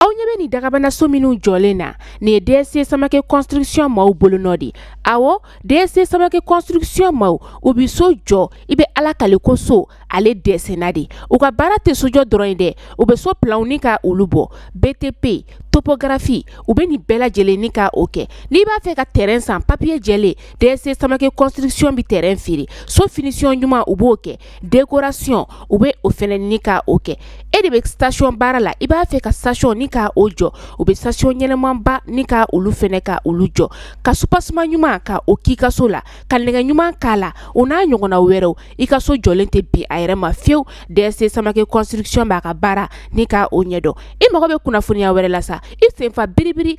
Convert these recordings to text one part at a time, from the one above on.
aw ɲɛ bɛ nin dagabanaso minnu jɔlen na nin ye dsc samake construction maaw bolonɔ di awɔ dsc samake construction maaw u bi so jɔ i bɛ ala kale ko so ale dɛsɛna de u ka baara tɛ sojɔ dɔrɔn ye dɛ u bɛ so planw ni ka olu bɔ btp topografi u bɛ nin bɛɛ lajɛlen ni ka o kɛ n'i b'a fɛ ka terrain san papiye jɛlen dsc samake construction bi terrain feere so finition ɲuman u b'o kɛ décoration u bɛ o fɛnɛ ni ka o kɛ e de bɛ station baara la i b'a fɛ ka station ni ka o jɔ u bɛ station ɲɛnamaba ni ka olu fɛnɛ ka olu jɔ ka soubassement ɲuman ka o k'i ka so la ka nɛgɛ ɲuman k'a la o n'a ɲɔgɔnna wɛrɛw i ka so jɔlen tɛ bin a yɛrɛ ma fiyewu dsc samake construction b'a ka baara ni ka o ɲɛdɔn i mago bɛ kunnafoniya wɛrɛ la sa i sen fa biribiri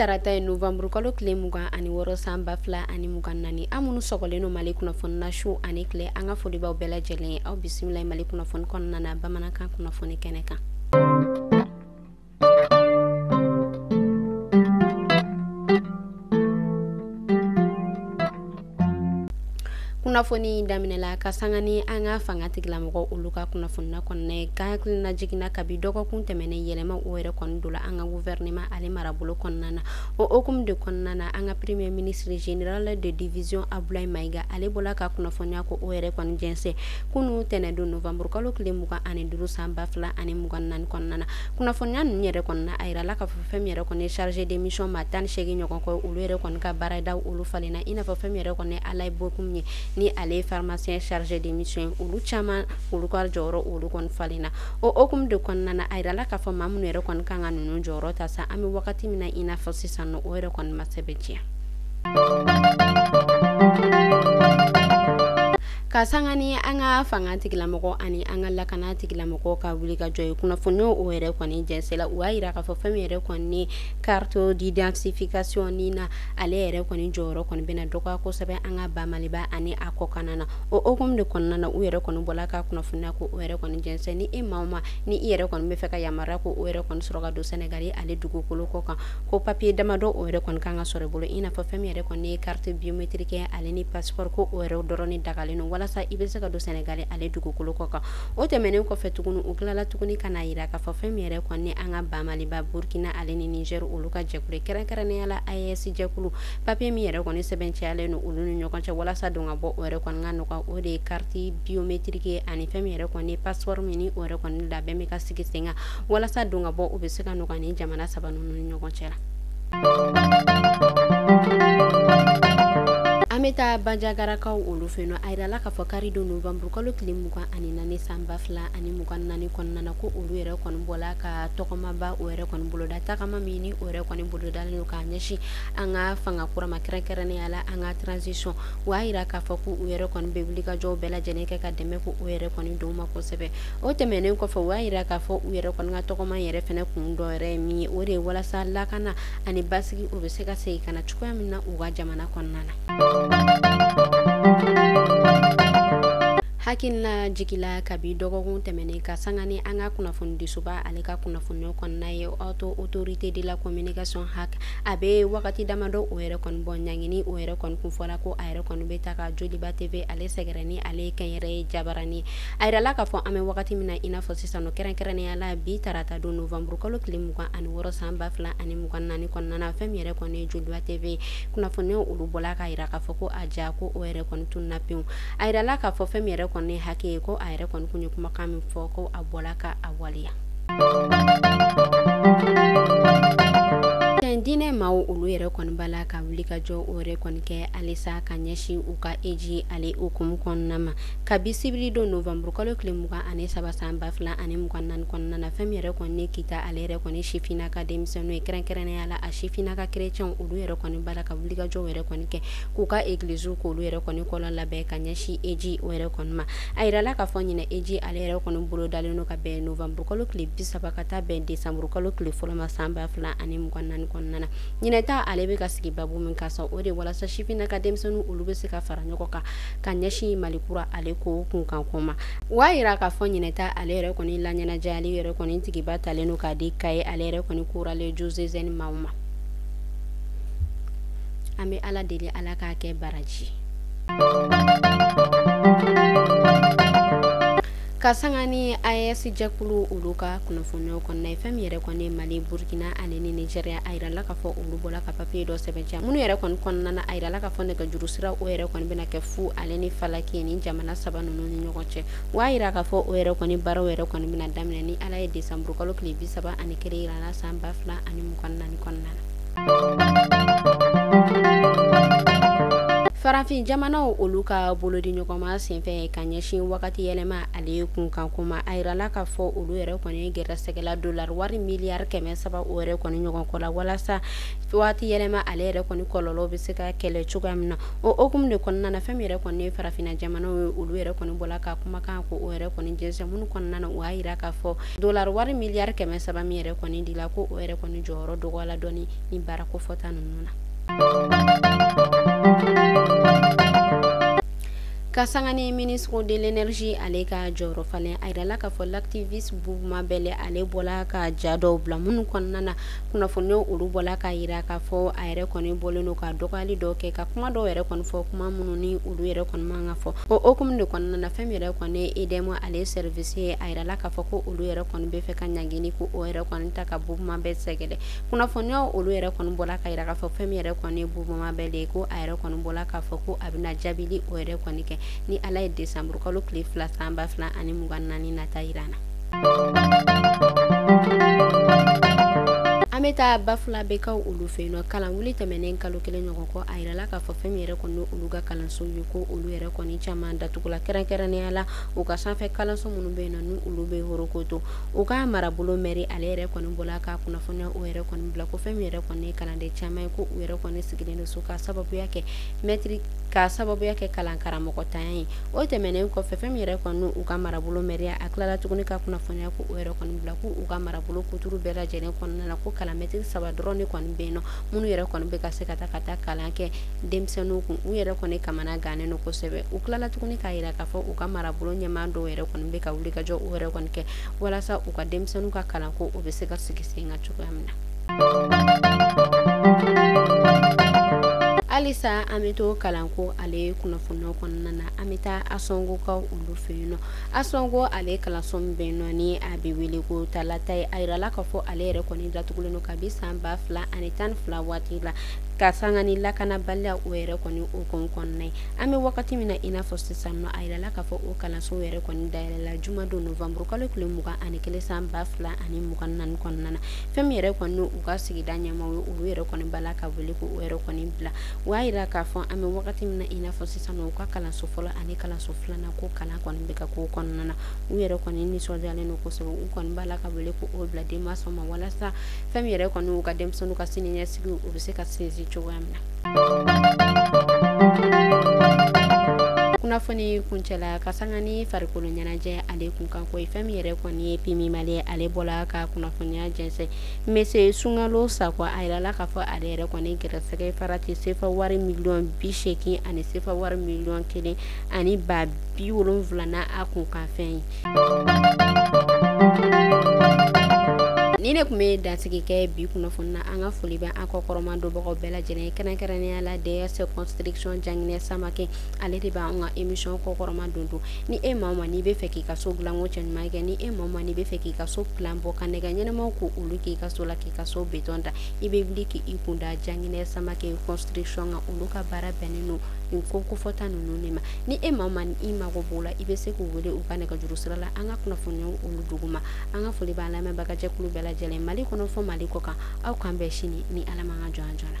tarata ye novanburu kalo tile mugan ani wɔɔrɔ san ba fila ani mugan naani an minnu sɔgɔlen no mali kunnafoni na su ani tile an ka foli b'aw bɛɛ lajɛlen ye aw bisimila mali kunnafoni kɔnɔna na bamanankan kunnafoni kɛnɛ kan kunnafoni daminɛ la ka sanga ni an ka fanga tigilamɔgɔ olu ka kunnafonina kɔnɔna ye ka hakilina jiginna kabi dɔgɔkun tɛmɛnen yɛlɛma o yɛrɛ kɔni dola an ka guvɛrɛnema ale marabolo kɔnɔna na o hukumu de kɔnɔna na an ka premier ministre général de division abulayi mayiga ale bɔla ka kunnafoniya ko o yɛrɛ kɔni jɛnsɛ kunu tɛnɛndon novanburu kalo tile mugan ani duru san ba fila ani mugan naani kɔnɔna na kunnafoniya ninnu yɛrɛ kɔnɔna a yirala k'a fɔ fɛn min yɛrɛ kɔni chargé de mission maa tan ni seegin ɲɔgɔn kɔ olu yɛrɛ kɔni ka baarada olu falenna i n'a fɔ fɛn min yɛrɛ kɔni Alayi Bokum ye ni ale ye pharmacien chargé de mission ye olu caman olu ka jɔyɔrɔ olu kɔni falenna o hukumu de kɔnɔna na a yirala k'a fɔ maa minnu yɛrɛ kɔni kan ka ninnu jɔyɔrɔ ta sa an bɛ wagati min na i n'a fɔ sisan nɔ o yɛrɛ kɔni ma sɛbɛntiya Ka sanga ni an ka fanga tigilamɔgɔ ani an ka lakana tigilamɔgɔ ka wuli ka jɔ ye kunnafoni n' o yɛrɛ kɔni jɛnsɛla u y'a jira k'a fɔ fɛn min yɛrɛ kɔni carte d'identification NINA ale yɛrɛ kɔni jɔyɔrɔ kɔni bɛna dɔgɔya kosɛbɛ an ka ba Maliba ani a kɔkan na o hukumu de kɔnɔna na u yɛrɛ kɔni bɔla ka kunnafoniya ko o yɛrɛ kɔni jɛsɛn ni e maa o maa ni i yɛrɛ kɔni b'a fɛ ka yamaruya ko o yɛrɛ kɔni sɔrɔ ka don Sénégal ale dugukolo kɔ kan ko papiye damadɔ o yɛrɛ kɔni kan ka sɔrɔ i bolo i n'a fɔ fɛn min yɛrɛ kɔni ye carte biométrique ale ni passeport ko o yɛrɛ dɔrɔn ni dagalen don walasa i bɛ se ka don Sénégal ale dugukolo kɔ kan o tɛmɛnen kɔfɛ tuguni u tilala tuguni k'a jira k'a fɔ fɛn min yɛrɛ kɔni an ka ba Maliba Burkina ale ni Niger olu ka jɛkulu kɛrɛnkɛrɛnnenya la AES jɛkulu papiye min yɛrɛ kɔni sɛbɛntiyalen don olu ni ɲɔgɔn cɛ walasa don ka bɔ o yɛrɛ kɔni ka nɔgɔya o de ye carte biométrique ani fɛn min yɛrɛ kɔni passeport min o yɛrɛ kɔni labɛn bɛ ka sigi sen kan walasa don ka bɔ u bɛ se ka nɔgɔya ni jamana saba ninnu ni ɲɔgɔn cɛ la an bɛ taa bajagarakaw olu fɛ yen nɔ a yirala k'a fɔ kari don novembre kalo tile mugan ani naani san ba fila ani mugan naani kɔnɔna na ko olu yɛrɛ kɔni bɔla ka tɔgɔmaba o yɛrɛ kɔni boloda tagama min ni o yɛrɛ kɔni bolodalen don k'a ɲɛsin an ka fanga kura ma kɛrɛnkɛrɛnnenya la an ka transition o y'a yira k'a fɔ ko u yɛrɛ kɔni bɛ wulikajɔ bɛɛ lajɛlen kɛ ka dɛmɛ ko o yɛrɛ kɔni don u ma kosɛbɛ o tɛmɛnen kɔfɛ u y'a yira k'a fɔ u yɛrɛ kɔni ka tɔgɔma yɛrɛ fɛnɛ kun dɔ yɛrɛ ye min ye o de ye walasa lakana ani basigi o bɛ se ka segin ka na cogoya min na u ka jamana kɔnɔna na hakilina jigila kabi dɔgɔkun tɛmɛnen ka sanga ni an ka kunnafonidisoba ale ka kunnafoniw kɔnɔna ye haute autorité de la communication HAC a bɛ wagati damadɔ o yɛrɛ kɔni bɔ ɲangini o yɛrɛ kɔni kun fɔla ko a yɛrɛ kɔni bɛ taa ka joliba tv ale sɛgɛrɛ ni ale ye kɛnyɛrɛye jabarani A yirala k'a fɔ an bɛ wagati min na i n'a fɔ sisan kɛrɛnkɛrɛnnenya la bi tarata don novembre kalo tile mugan ani wɔɔrɔ san ba fila ani mugan naani kɔnɔna na fɛn min yɛrɛ kɔni joliba tv kunnafoni olu bɔla k'a yira k'a fɔ ko a ja ko o yɛrɛ kɔni tununna pewu a yirala k'a fɔ fɛn min yɛrɛ kɔni HAC ye ko a yɛrɛ kɔni tun ye kumakan min fɔ ko a bɔla ka a waleya diinɛ maaw olu yɛrɛ kɔni b'a la ka wulikajɔ o yɛrɛ kɔni kɛ halisa ka ɲɛsin u ka eji ale hukumu kɔnɔna ma kabi sibiri don novembre kalo tile mugan ani saba san ba fila ani mugan naani kɔnɔna na fɛn min yɛrɛ kɔni ye kita ale yɛrɛ kɔni sifina ka denmisɛnninw ye kɛrɛnkɛrɛnnenya la a sifina ka kerecɛnw olu yɛrɛ kɔni b'a la ka wulikajɔw yɛrɛ kɔni kɛ k'u ka egiliziw k'olu yɛrɛ kɔni kɔlɔn labɛn ka ɲɛsin eji o yɛrɛ kɔni ma a yirala k'a fɔ ɲinɛ eji ale yɛrɛ kɔni bolo dalen don ka bɛn novembre kalo tile bi saba ka taa bɛn desanburu kalo tile fɔlɔ ma san ba fila ani mugan naani kɔnɔna na ɲinɛ ta ale bɛ ka sigi babu min kan sa o de walasa sifina ka denmisɛnninw olu bɛ se ka fara ɲɔgɔn kan ka ɲɛsin mali kura ale ko kunkanko ma o y'a yira k'a fɔ ɲinɛta ale yɛrɛ kɔni laɲɛnajɛ ale yɛrɛ kɔni tigiba talen don k'a di kaye ale yɛrɛ kɔni chorale diocésaine maaw ma an bɛ ala deli ala k'a kɛ baraji ka sanga ni AES jɛkulu olu ka kunnafoniyaw kɔnɔna ye fɛn min yɛrɛ kɔni mali burkina ani niger ye a yirala k'a fɔ olu bɔla ka papiye dɔ sɛmɛntiya minnu yɛrɛ kɔni kɔnɔna na a yirala k'a fɔ nɛgɛjuru sira o yɛrɛ kɔni bɛna kɛ fu ale ni falaki ni jamana saba ninnu ni ɲɔgɔn cɛ wa yira k'a fɔ o yɛrɛ kɔni baaraw yɛrɛ kɔni bɛna daminɛ ni ala ye desanburu kalo tile bi saba ani kelen yira an la san ba fila ani mugan naani kɔnɔna na farafin jamanaw olu ka bolodiɲɔgɔnma senfɛ ka ɲɛsin wagati yɛlɛma ale kunkanko ma a yirala k'a fɔ olu yɛrɛ kɔni gɛrɛsɛgɛla dolari wari miliyari kɛmɛ saba o yɛrɛ kɔni ɲɔgɔn kɔ la walasa waati yɛlɛma ale yɛrɛ kɔni kɔlɔlɔw bɛ se ka kɛlɛ cogoya min na o hukumu de kɔnɔna na fɛn min yɛrɛ kɔni farafinna jamanaw ye olu yɛrɛ kɔni bɔla ka kumakan ko o yɛrɛ kɔni jɛnsɛn minnu kɔnɔna na o y'a yira k'a fɔ dollar wari miliyari kɛmɛ saba min yɛrɛ kɔni dila ko o yɛrɛ kɔni jɔyɔrɔ dɔgɔyala dɔɔni baara kofɔta ninnu na ka sanga ni ministre de l'énergie ale ka jɔyɔrɔ falen a yirala k'a fɔ lati mabel ale bɔla ka ja dɔw bila minnu kɔnɔna na kunnafoniyaw olu bɔla k'a yira k'a fɔ a yɛrɛ kɔni bɔlen don ka dɔgɔyali dɔ kɛ ka kuma dɔw yɛrɛ kɔni fɔ kuma minnu ni olu yɛrɛ kɔni man ka fɔ o hukumu de kɔnɔna na fɛn min yɛrɛ kɔni EDM ale service ye a yirala k'a fɔ ko olu yɛrɛ kɔni bɛ fɛ ka ɲangili ko o yɛrɛ kɔni ta ka boubou mabel sɛgɛrɛ kunnafoniyaw olu yɛrɛ kɔni bɔla k'a yira k'a fɔ fɛn min yɛrɛ kɔni boubou mabel ye ko a yɛrɛ kɔni bɔla k'a fɔ ko a bɛna jaabili o yɛrɛ kɔni kɛ ni ale ye desanburu kalo tile fila san ba fila ani mugan naani nata yira na an bɛ taa bafulabɛkaw olu fɛ yen nɔ kalan wuli tɛmɛnen kalo kelen ɲɔgɔn kɔ a yirala k'a fɔ fɛn min yɛrɛ kɔni olu ka kalanso ye ko olu yɛrɛ kɔni caman datugula kɛrɛnkɛrɛnnenya la u ka sanfɛ kalanso minnu bɛ yen nɔ ni olu bɛ horokoto u ka marabolo mɛri ale yɛrɛ kɔni bɔla ka kunnafoniya o yɛrɛ kɔni bila ko fɛn min yɛrɛ kɔni ye kalanden caman ye ko u yɛrɛ kɔni sigilen don so ka sababuya kɛ mɛtiri ka sababuya kɛ kalan karamɔgɔ tanya ye o tɛmɛnen kɔfɛ fɛn min yɛrɛ kɔni u ka marabolo mɛri ye a tilala tuguni ka kunnafoniya ko o yɛrɛ kɔni bila k' u ka marabolo kutuuru bɛɛ lajɛlen kɔnɔna na ko kalan mɛtiri saba dɔrɔn de kɔni bɛ yen nɔ minnu yɛrɛ kɔni bɛ ka se ka taa ka taa kalan kɛ denmisɛnninw kun u yɛrɛ kɔni kamana gannen don kosɛbɛ u tilala tuguni k'a yira k'a fɔ u ka marabolo ɲɛmaa dɔw yɛrɛ kɔni bɛ ka wulikajɔ o yɛrɛ kɔni kɛ walasa u ka denmisɛnninw ka kalanko o bɛ se ka sigi sen kan cogoya min na halisa an bɛ to kalanko ale kunnafoni kɔnɔna na an bɛ taa ansongokaw olu fɛ yen nɔ ansongo ale kalanso min bɛ yen nɔ ni a bɛ wele ko talatayi a yirala k'a fɔ ale yɛrɛ kɔni datugulen don kabi san ba fila ani tan ni fila waati la ka sanga ni lakanabaliya o yɛrɛ kɔni hukumu kɔnɔna ye an bɛ wagati min na i n'a fɔ sisan nɔ a yirala k'a fɔ o kalanso yɛrɛ kɔni dayɛlɛla jumadon novanburukalo tile mugan ani kelen san ba fila ani mugan naani kɔnɔna na fɛn min yɛrɛ kɔni u ka sigida ɲɛmaaw ye olu yɛrɛ kɔni b'a la ka wele ko o yɛrɛ kɔni bila o y'a yira k'a fɔ an bɛ wagati min na i n'a fɔ sisan u ka kalanso fɔlɔ ani kalanso filanan ko kalan kɔni bɛ ka k'o kɔnɔna na u yɛrɛ kɔni nisɔndiyalen don kosɛbɛ u kɔni b'a la ka wele ko o bila denmasaw ma walasa fɛn min yɛrɛ kɔni u ka denmisɛnninw ka siniɲɛsigi o bɛ se ka sinsin cogoya min na kunnafoni kuncɛla ka sanga ni farikolo ɲɛnajɛ ale kun kan ko ye fɛn min yɛrɛ kɔni ye pmu mali ale bɔla ka kunnafoniya jɛnsɛn monsieur sunkalo sakɔ a yirala k'a fɔ ale yɛrɛ kɔni gɛrɛsɛgɛ farati sefa wari miliyɔn bi seegin ani sefa wari miliyɔn kelen ani ba bi wolonwula na a kun kan fɛn ye ni ne kun bɛ dansigi kɛ bi kunnafoni na an ka foli bɛ an kɔ kɔrɔma donbagaw bɛɛ lajɛlen kɛrɛnkɛrɛnnenya la ds construction janginɛ samake ale de bɛ an ka émission kɔ kɔrɔma don don ni e maa o maa n'i bɛ fɛ k'i ka so dilanko cɛ ɲuman kɛ ni e maa o maa n'i bɛ fɛ k'i ka so plan bɔ ka nɛgɛ ɲɛnamaw ko olu k'i ka so la k'i ka so béton da i bɛ wuli k'i kun da janginɛ samake construction kan olu ka baara bɛnnen don nin ko kofɔta ninnu de ma ni e maa o maa ni i mago b'o la i bɛ se k'u wele u ka nɛgɛjuru sira la an ka kunnafoni olu duguma an ka foli b'an lamɛnbagajɛkulu bɛɛ lajɛlen mali kɔnɔ fɔ mali kɔ kan aw k'an bɛn sini ni ala ka jɔn jɔ la